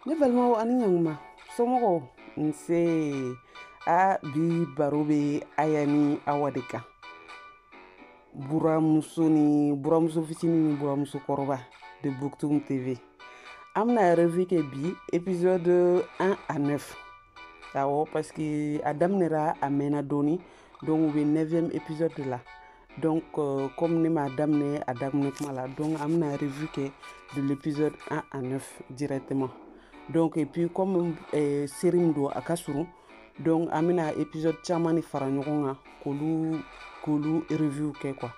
ne balimaw ani ɲanguma somɔgɔw nse a bi baro bɛ aya ni awa de kan buramuso ni buramuso fitini ni buramuso kɔrɔba de buktum tv an bɛna revue kɛ bi épisode 1 à 9 awɔ parce que a daminɛra a mɛnna dɔɔni donc u bɛ 9e épisode de la Donc, euh, comme ne m'a daminɛ a daminɛ kuma la, donc an bɛna revue kɛ de l'épisode 1 à 9 directement. Donc, et puis comme euh, série min don a ka surun, donc an bɛna épisode caman de fara ɲɔgɔn kan k'olu k'olu review kɛ quoi.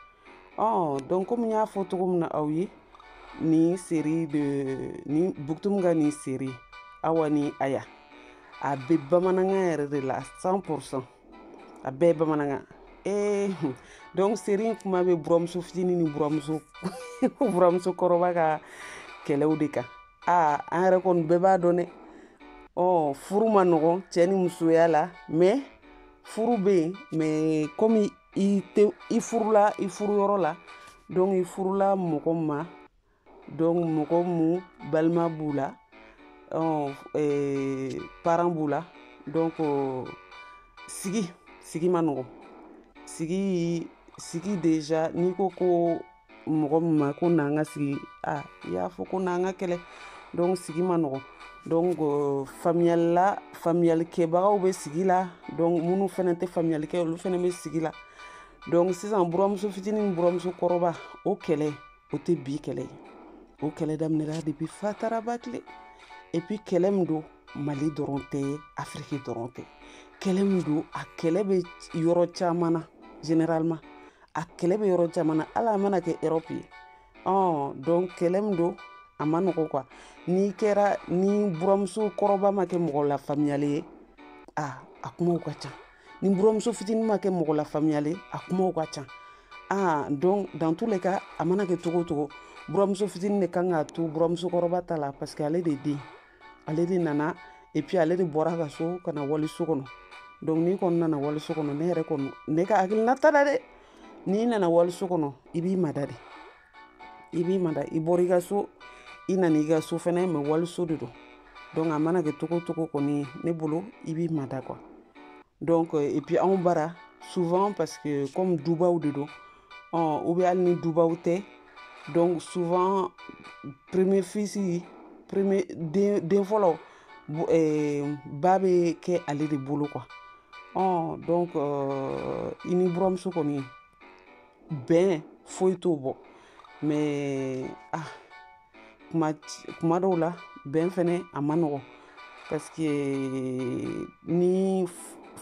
Ɔ donc comme n y'a fɔ cogo min na aw ye nin série de ni Buktum ka nin série Awa ni Aya a bɛ bamanankan yɛrɛ de la 100 pour 100. a bɛɛ ye bamanankan ee eh, donc série in kuma bɛ buramuso fitini ni buramuso buramuso kɔrɔba ka kɛlɛw de kan aa ah, an yɛrɛ kɔni bɛɛ b'a dɔn dɛ ɔ furu ma nɔgɔ cɛ ni musoya la mais furu bɛ yen mais comme i tɛ i furula i furuyɔrɔ la donc i furula mɔgɔ ma donc mɔgɔ mun balima b'u la parents b'u la donc sigi sigi ma nɔgɔ sigi sigi déjà n'i ko ko mɔgɔ min ma ko n'an ka sigi a i y'a fɔ ko n'an ka kɛlɛ donc sigi ma nɔgɔ donc faamuyali la faamuyalikɛbagaw bɛ sigi la donc minnu fana tɛ faamuyali kɛ olu fana bɛ sigi la donc sisan buramuso fitinin ni buramuso kɔrɔba o kɛlɛ o tɛ bi kɛlɛ ye o kɛlɛ daminɛra depuis fataraba tile et puis kɛlɛ min don mali dɔrɔn tɛ afiriki dɔrɔn tɛ kɛlɛ min don a kɛlɛ bɛ yɔrɔ caman na généralement a kɛlɛ bɛ yɔrɔ caman na hali a mana kɛ erɔpu ye ɔ donc kɛlɛ min don a ma nɔgɔ quoi n'i kɛra ni buramuso kɔrɔba ma kɛ mɔgɔ lafaamuyalen ye a a kumaw ka ca ni buramuso fitinin ma kɛ mɔgɔ lafaamuyalen a kumaw ka ca aa donc dans tous les cas a mana kɛ cogo cogo buramuso fitinin de kan k'a to buramuso kɔrɔba ta la parce que ale de den ale de nana et puis ale de bɔra ka so ka na waliso kɔnɔ donc n'i kɔni nana waliso kɔnɔ ne yɛrɛ kɔni ne ka hakilina ta la dɛ n'i nana waliso kɔnɔ i b'i mada de i b'i mada i bɔra i ka so i nana i ka so fɛnɛ mais waliso de don donc a mana kɛ cogo cogo kɔni ne bolo i b'i mada quoi donc et puis anw bara souvent parce que comme dubaw de don ɔ ou bien hali ni dubaw tɛ donc souvent premier fils premier den den fɔlɔ ba bɛ kɛ ale de bolo quoi ɔ donc i ni buramuso kɔni bɛn foyi t'o bɔ mais a ah, kuma kuma dɔw la bɛn fɛnɛ a man nɔgɔ parce que ni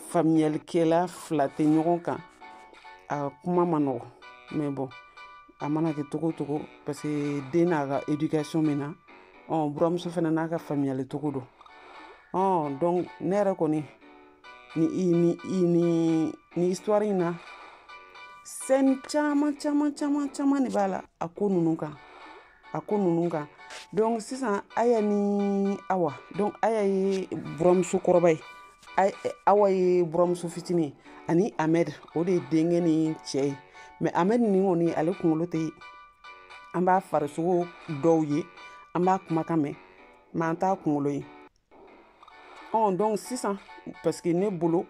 faamuyalikɛla fila tɛ ɲɔgɔn kan a kuma man nɔgɔ mais bon a mana kɛ cogo cogo parce que den n'a ka éducation min na ɔ buramuso fɛnɛ n'a ka faamuyali cogo don ɔ donc ne yɛrɛ kɔni ni i ni i ni ni histoire in na scène caman caman caman caman de b'a la a ko ninnu kan a ko ninnu kan donc sisan aya ni awa donc aya ye buramuso kɔrɔba ye awa ye buramuso fitinin ani ahmed o de ye denkɛ ni cɛ ye mais ahmed nin kɔni ale kunkolo tɛ an b'a farisogo dɔw ye an b'a kumakan mɛn mais an t'a kunkolo ye ɔn donc sisan parce que ne bolo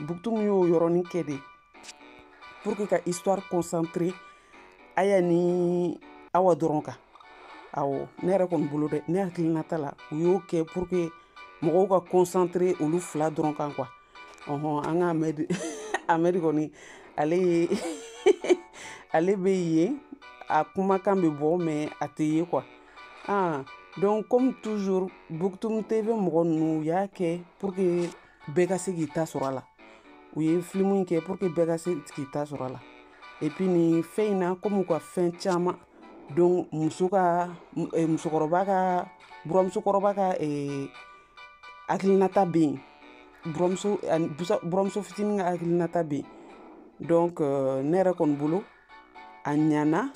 buktum y'o yɔrɔnin kɛ de pour que ka histoire concentrer aya ni awa dɔrɔn kan awɔ ne yɛrɛ kɔni bolo dɛ ne hakilinata la u y'o kɛ pour que mɔgɔw ka concentrer olu fila dɔrɔn kan quoi ɔhɔn an ka ahmed ahmed kɔni ale ye ale bɛ yen a kumakan bɛ bɔ mais a tɛ ye quoi ah donc comme toujours buktum tv mɔgɔ ninnu u y'a kɛ pour que bɛɛ ka se k'i ta sɔrɔ a la u ye filimu in kɛ pour que bɛɛ ka se k'i ta sɔrɔ a la et puis nin fɛn in na comme u ka fɛn caman donc muso ka eh, musokɔrɔba ka buramusokɔrɔba ka eh, hakilinata bɛ yen buramuso ani busa- buramuso fitinin ka hakilinata bɛ yen donc euh, ne yɛrɛ kɔni bolo a ɲana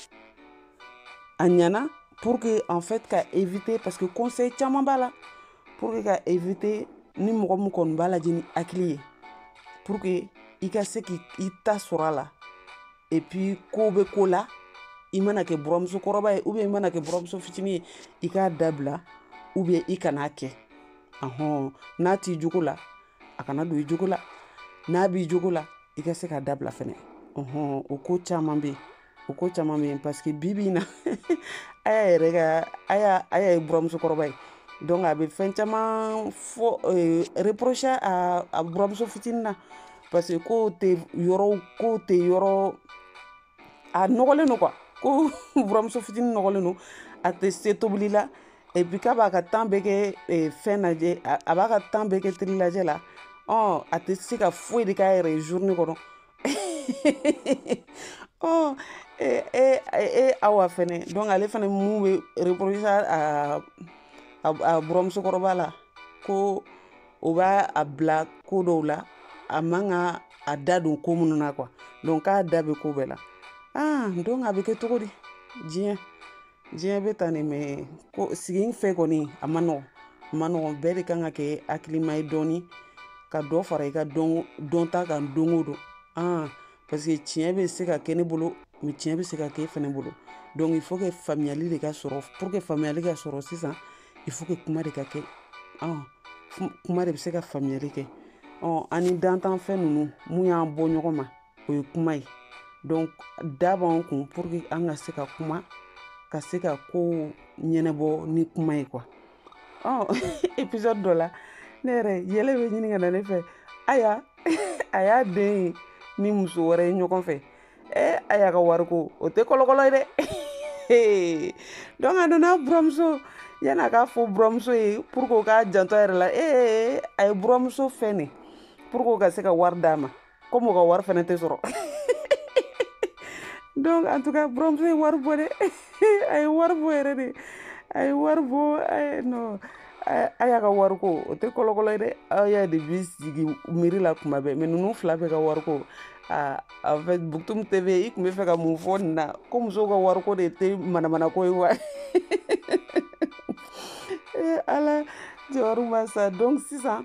a ɲana pour que en fait ka éviter parce que conseil caman b'a la pour que ka éviter ni mɔgɔ min kɔni b'a lajɛ ni hakili ye pour que i ka se k'i ta sɔrɔ a la et puis ko bɛ ko la i mana kɛ buramuso kɔrɔba ye ou bien i mana kɛ buramuso fitinin ye i k'a dabila ou bien i kan'a kɛ ahɔn n'a t'i jogo la a kana don i jogo la n'a b'i jogo la i ka se k'a dabila fɛnɛ ɔhɔn o ko caman bɛ yen o ko caman bɛ yen parce que bi bi in na aya yɛrɛ ka aya aya ye buramusokɔrɔba ye donc a bɛ fɛn caman fɔ eh, reprocher a buramuso fitinin na parce que k'o tɛ yɔrɔ k'o tɛ yɔrɔ a nɔgɔlen don quoi ko buramuso fitinin nɔgɔlen don a tɛ se tobili la et puis k'a b'a ka temps bɛɛ kɛ eh, fɛn lajɛ a b'a ka temps bɛɛ kɛ télé lajɛ la ɔ a tɛ se ka foyi de k'a yɛrɛ ye journée kɔnɔ ɔ e e e awa fɛnɛ donc ale fɛnɛ mun bɛ reprocher a a buramusokɔrɔba la ko o b'a bila ko dɔw la a man ka a da don ko minnu na quoi donc a da bɛ ko bɛɛ la aa donc a bɛ kɛ cogo di diɲɛ diɲɛ bɛ tan de mais ko sigi fɛ kɔni a ma nɔgɔn a ma nɔgɔn bɛɛ de kan ka kɛ hakilima ye dɔɔni ka dɔ fara i ka dɔnta kan don o don aa parce que tiɲɛ bɛ se ka kɛ ne bolo mais tiɲɛ bɛ se ka kɛ e fana bolo donc il faut que faamuyali de ka sɔrɔ pour que faamuyali ka sɔrɔ sisan il faut que kuma de ka kɛ ɔn kuma de bɛ se ka faamuyali kɛ ɔn an ni dantanfɛn ninnu mun y'an bɔ ɲɔgɔn ma o ye kuma ye donc da b'an kun pour que an ka se ka kuma ka se ka kow ɲɛnabɔ ni kuma ye quoi ɔ épisode dɔ la ne yɛrɛ yɛlɛ bɛ ɲini ka na ne fɛ aya a y'a den ye ni muso wɛrɛ ye ɲɔgɔn fɛ ɛ aya ka wariko o tɛ kɔlɔkɔlɔ ye dɛ donc a nana buramuso yanni a k'a fɔ buramuso ye pour que o k'a janto a yɛrɛ la ee a ye buramuso fɛn de pour que o ka se ka wari d'a ma comme o ka wari fana tɛ sɔrɔ donc en tout cas buramuso ye wari bɔ dɛ a ye wari bɔ yɛrɛ de a ye wari bɔ non aya ka wariko o tɛ kɔlɔkɔlɔ ye dɛ aya de b'i sigi miiri la kuma bɛɛ mais ninnu fila bɛɛ ka wariko a en fait Boutoum TV i tun bɛ fɛ ka mun fɔ nin na ko musow ka wariko de tɛ manamanako ye wa ala jɔyɔrɔ ma sa donc sisan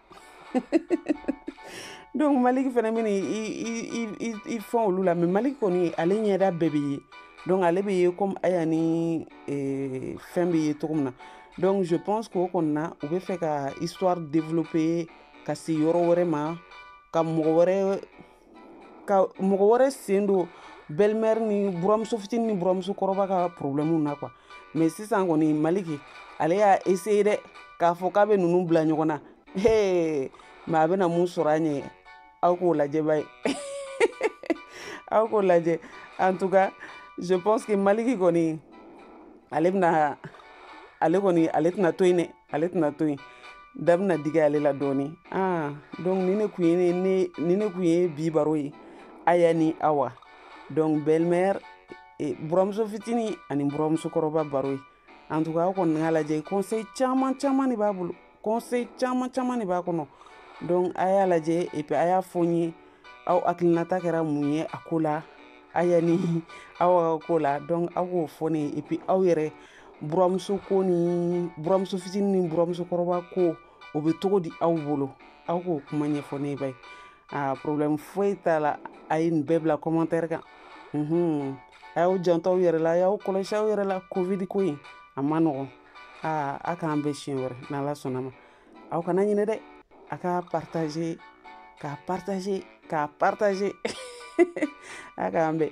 donc maliki fana bɛna i fɛn olu la mais maliki kɔni ale ɲɛda bɛɛ bɛ ye donc ale bɛ ye comme aya ni eh, fɛn bɛ ye cogo min na donc je pense k'o kɔni na u bɛ fɛ ka histoire développer ka se yɔrɔ wɛrɛ ma ka mɔgɔ wɛrɛ ka mɔgɔ wɛrɛ sen don belle-mère ni buramuso fitinin ni buramuso kɔrɔba ka problème na quoi mais sisan kɔni maliki ale y'a essayer dɛ k'a fɔ k'a bɛ ninnu bila ɲɔgɔn na he mais a bɛna mun sɔrɔ a ɲɛ aw k'o lajɛ ba ye aw k'o lajɛ en tout cas je pense que maliki kɔni ale bɛna ale kɔni ale tɛna to yen dɛ ale tɛna to yen dɛ a bɛna digi ale la dɔɔni ah donc nin de kun ye nin de nin de kun ye bi baro ye aya ni awa donc belle-mère eh, buramuso fitini ani buramuso kɔrɔba baro ye en tout cas aw kɔni k'a lajɛ conseil caman caman de b'a bolo conseil caman caman de b'a kɔnɔ donc a y'a lajɛ et puis a y'a fɔ n ye aw hakilinata kɛra mun ye a ko la aya ni awa ka ko la donc aw k'o fɔ ne ye et puis aw yɛrɛ buramuso ko ni buramuso fitini ni buramuso kɔrɔba ko o bɛ cogo di aw bolo aw k'o kuma ɲɛfɔ ne ye ba ye a problème foyi t'a la a ye nin bɛɛ bila commentaire kan mhm. a y'aw janto aw yɛrɛ la a y'aw kɔlɔsi aw yɛrɛ la covid ko in a ma nɔgɔn aa a k'an bɛn siɲɛ wɛrɛ n'ala sɔnn'a ma aw kana ɲinɛ dɛ a k'a partage k'a partage k'a partage a k'an bɛn